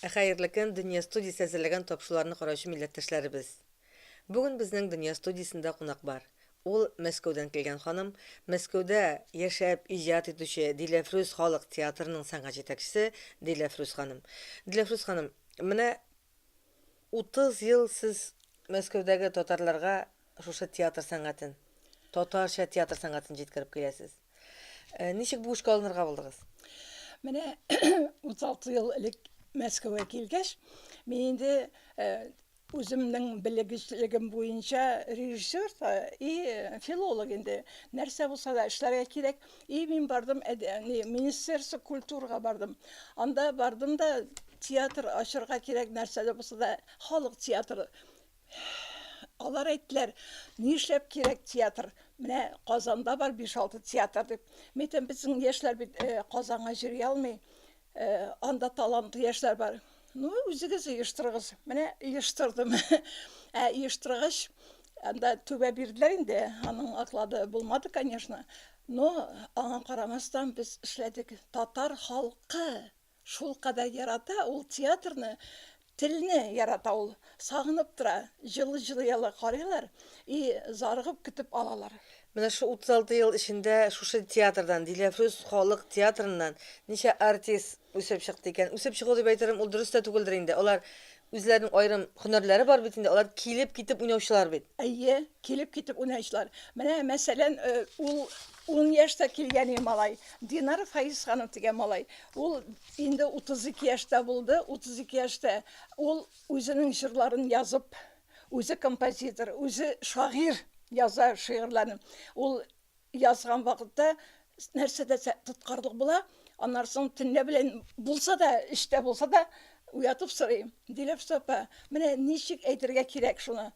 Хәерле көн, Дөнья студиясе әзерләгән тапшыруларны караучы милләттәшләребез. Бүген безнең Дөнья студиясендә кунак бар. Ул, Мәскәүдән килгән ханым, Мәскәүдә яшәп иҗат итүче Диләфрүз халык театрының сәнгать җитәкчесе Диләфрүз ханым. Диләфрүз ханым, менә 30 ел сез Мәскәүдәге татарларга шушы театр сәнгатен, татарча театр сәнгатен җиткереп киләсез. Ничек бу эшкә алынырга булдыгыз? Менә 36 ел элек Мәскәүгә килгәч, мин инде Үземнең белегечлегем буенча режиссер да и филолог инде. Нәрсә булса да эшләргә кирәк. И мин бардым министерство культурага бардым. Анда бардым да театр ачырга кирәк нәрсә дә булса да халык театры. Алар әйттеләр, нишләп кирәк театр, менә Казанда бар биш-алты театр дип. Мин әйтәм, безнең яшьләр бит Казанга йөри алмый. Э, анда талантлы яшьләр бар. Ну, үзегез оештырыгыз. Менә оештырдым. Ә оештыргач, анда түбә бирделәр инде. Аның оклады булмады, конечно. Но аңа карамастан без эшләдек. Татар халкы шул кадәр ярата ул театрны. Телне ярата ул, сагынып тора, җылы җылыялы карыйлар и зарыгып көтеп алалар. Менә шул 36 ел эчендә шушы театрдан, Диләфрүз халык театрыннан ничә артист үсеп чыкты икән? Үсеп чыгу дип әйтерем, ул дөрес тә түгелдер инде. Алар үзләренең аерым һөнәрләре бар бит инде, алар килеп-китеп уйнаучылар бит. Әйе, килеп-китеп уйнаучылар. Менә, мәсәлән, ул ун яшьтә килгән иде малай, Динар Фаисханов дигән малай. Ул Инде 32 яшьтә булды, 32 яшьтә ул үзенең җырларын язып, үзе композитор, үзе шагыйрь яза шигырьләрен. Ул язган вакытта нәрсә дә тоткарлык була, аннан соң төнлә белән булса да, эштә булса да, уятып сорый, Диләфсә апа, менә ничек әйтергә кирәк шуны?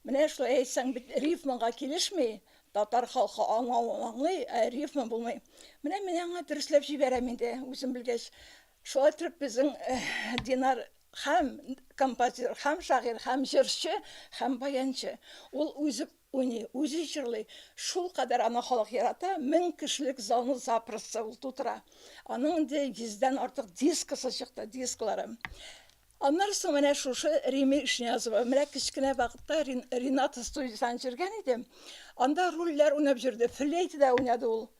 Менә шулай әйтсәң бит рифмага килешми, татар халкы аңлавын аңлый, ә рифма булмый. Менә мин аңа дөресләп җибәрәм инде, үзем белгәч. Шулай итеп безнең Динар һәм композитор, һәм шагыйрь, һәм җырчы, һәм баянчы. Ул үзе уйный, үзе җырлый. Шулкадәр аны халык ярата, мең кешелек залны запросто ул тутыра. Аның инде йөздән артык дискысы чыкты, дисклары. Аннары соң менә шушы Римия Ишниязова. Менә кечкенә вакытта Рената студиясен җырган иде. Анда рольләр уйнап җөрде, флейтада уйнады ул.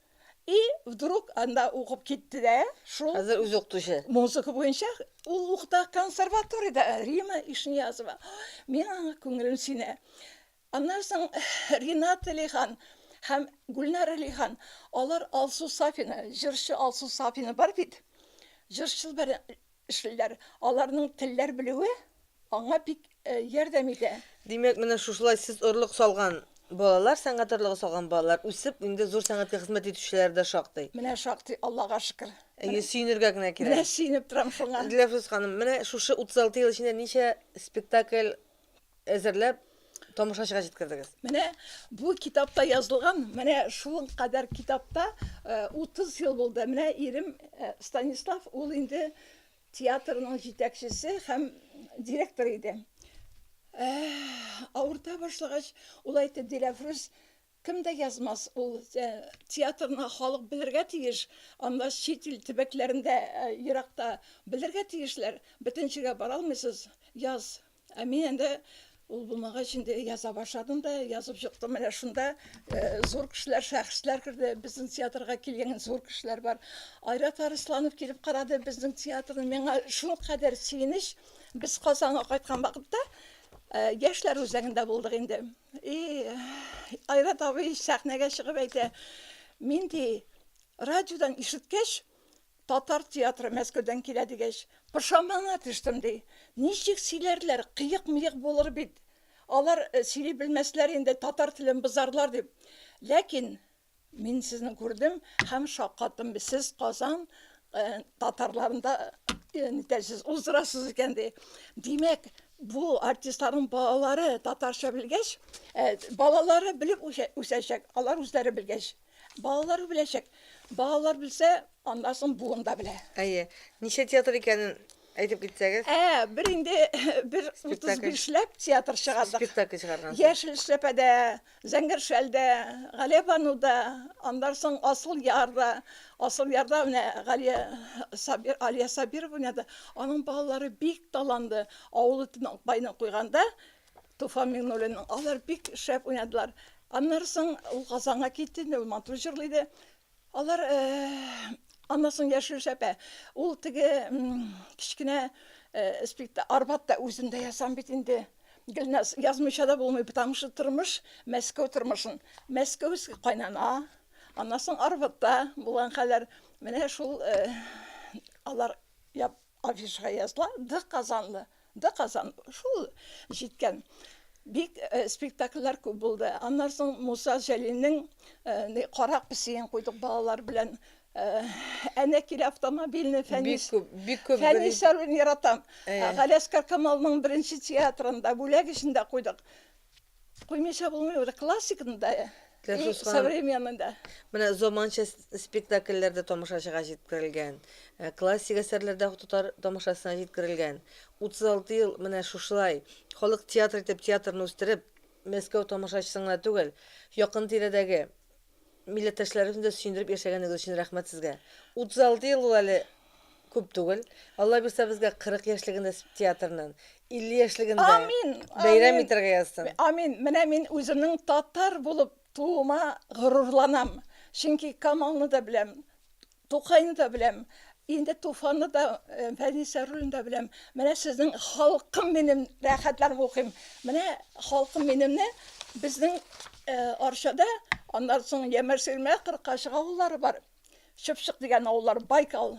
И вдруг анда укып китте дә, шул. Хәзер үзе укытучы. Музыка буенча ул укыта консерваториядә, Рима Ишниязова. Мин аңа күңелем синә. Аннары соң Ренат Лихан һәм Гүлнара Лихан, алар Алсу Сафина, җырчы Алсу Сафина бар бит. Җырчыл бер Эшлиләр. Аларның телләр белүе аңа бик ярдәм итә. Димәк, менә шушылай сез орлык салган балалар, сәнгать орлыгы салган балалар үсеп, инде зур сәнгатькә хезмәт итүчеләр дә шактый. Менә шактый, Аллага шөкер. Әйе, сөенергә генә кирәк. Менә сөенеп торам шуңа. Диләфрүз ханым, менә шушы 36 ел эчендә ничә спектакль әзерләп тамашачыга җиткердегез. Менә бу китапта язылган, менә шул кадәр китапта 30 э, ел булды. Менә ирем э, Станислав, ул инде театрның җитәкчесе һәм директор иде. Э, авырта башлагач, ул әйтте, Диләфрүз, Кем дә язмас, ул театрны халык белергә тиеш, анда чит ил төбәкләрендә, еракта белергә тиешләр, бөтен җиргә бара алмыйсыз, яз. Ә мин инде ул булмагач инде яза башладым да, язып чыктым, менә шунда зур кешеләр, шәхесләр керде, безнең театрга килгән зур кешеләр бар. Айрат Арысланов килеп карады безнең театрны, миңа шулкадәр сөенеч, без Казанга кайткан вакытта Яшьләр үзәгендә булдык инде. И, Айрат абый сәхнәгә чыгып әйтә, мин ди, радиодан ишеткәч, татар театры Мәскәүдән килә дигәч, пошамана төштем ди. Ничек сөйләрләр, кыек-мыек булыр бит. Алар сөйли белмәсләр инде, татар телен бозарлар дип. Ләкин Мин сезне күрдем һәм шаккаттым. Сез Казан э, татарларында э, нитәсез уздырасыз икән ди. Димәк, бу артистларның балалары татарча белгәч, э, балалары белеп үсәчәк, алар үзләре белгәч. Балалар беләчәк. Балалар белсә, аннан соң буын да белә. Әйе. Ничә театр икәнен әйтеп китсәгез. Ә, бер инде бер 35 ләп театр чыгардык. Спектакль чыгарган. Яшел эшләпәдә, Зәңгәр шәл дә, Галиябану да, аннан соң Асыл яр да. Асыл ярда менә Галия Сабир, Алия Сабирова уйнады. Аның балалары бик таланлы. Авылы Төнакбайны куйганда, Туфан Миңнуллинның, алар бик шәп уйнадылар. Аннары соң ул Казанга китте инде, ул матур җырлый иде. Алар, аннан соң яшелчә әпә, ул теге кечкенә спектакль Арбат та үзем дә ясам бит инде. Гөлназ, язмыйча да булмый, потому что тормыш, Мәскәү тормышын, мәскәүский кайнана, аннан соң Арбатта булган хәлләр, менә шул алар Афишага языла, Ды Казанлы, Ды Казан, шул җиткән. Бик спектакльләр күп булды. Аннан соң Муса Җәлилнең ни Кара песиен куйдык балалар белән. Әнә килә автомобильный Фәнис. Бик күп. Фәнис Сәруин яратам. Галәскәр Камалның беренче театрында бүләк эчендә куйдык. Куймыйча булмый ул классикны да, и современный да. Менә заманча спектакльләр дә тамашачыга җиткерелгән. Э, классик әсәрләр дә татар тамашасына җиткерелгән. 36 ел менә шушылай халык театры итеп театрны үстереп, Мәскәү тамашачысына түгел, якын тирәдәге Милләттәшләребезне дә сөендереп яшәгәнегез өчен рәхмәт сезгә. 36 ел ул әле күп түгел. Алла бирсә безгә 40 яшьлегендә театрның, 50 яшьлегендә Амин! Бәйрәм Амин! итәргә язсын. Амин! Менә мин үземнең татар булып тууыма горурланам. Чөнки Камалны да беләм. Тукайны да беләм, инде Туфанны да, Фәнис Яруллинны да беләм. Менә сезнең Халкым минем рәхәтләнеп укыйм. Менә Халкым минемне безнең Арчада, аннан соң Ямәр-Сирмә, Кыркачык авыллары бар. Чыпчык дигән авыллар, Байкал.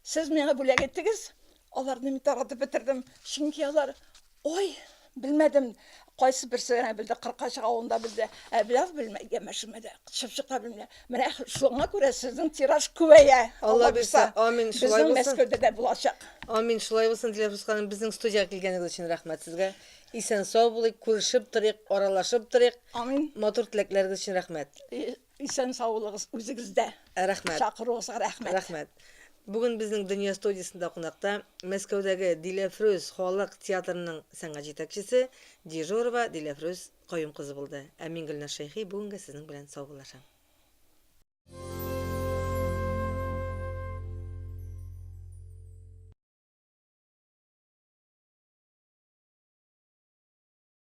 Сез миңа бүләк иттегез, аларны мин таратып бетердем, чөнки алар Ой, белмәдем, кайсы берсе генә белде, Кыркачык авылында белде, ә бераз белмәде, Гәмәшемә дә чыпчык та белмә. Менә шуңа күрә сезнең тираж күбәя. Алла бирса, амин, шулай булсын. Безнең Мәскәүдә дә булачак. Амин, шулай булсын, Диләфрүз ханым, безнең студиягә килгәнегез өчен рәхмәт сезгә. Исән-сау булыйк, күрешеп торыйк, аралашып торыйк. Амин. Матур теләкләрегез өчен рәхмәт. Исән саулыгыз үзегездә. Рәхмәт. Чакыруыгызга рәхмәт. Рәхмәт. Бүген безнең Дөнья студиясендә кунакта Мәскәүдәге Диләфрүз халык театрының сәнгать җитәкчесе Дежурова Диләфрүз Каюм кызы булды. Ә мин Гөлназ Шәйхи бүгенгә сезнең белән саубуллашам.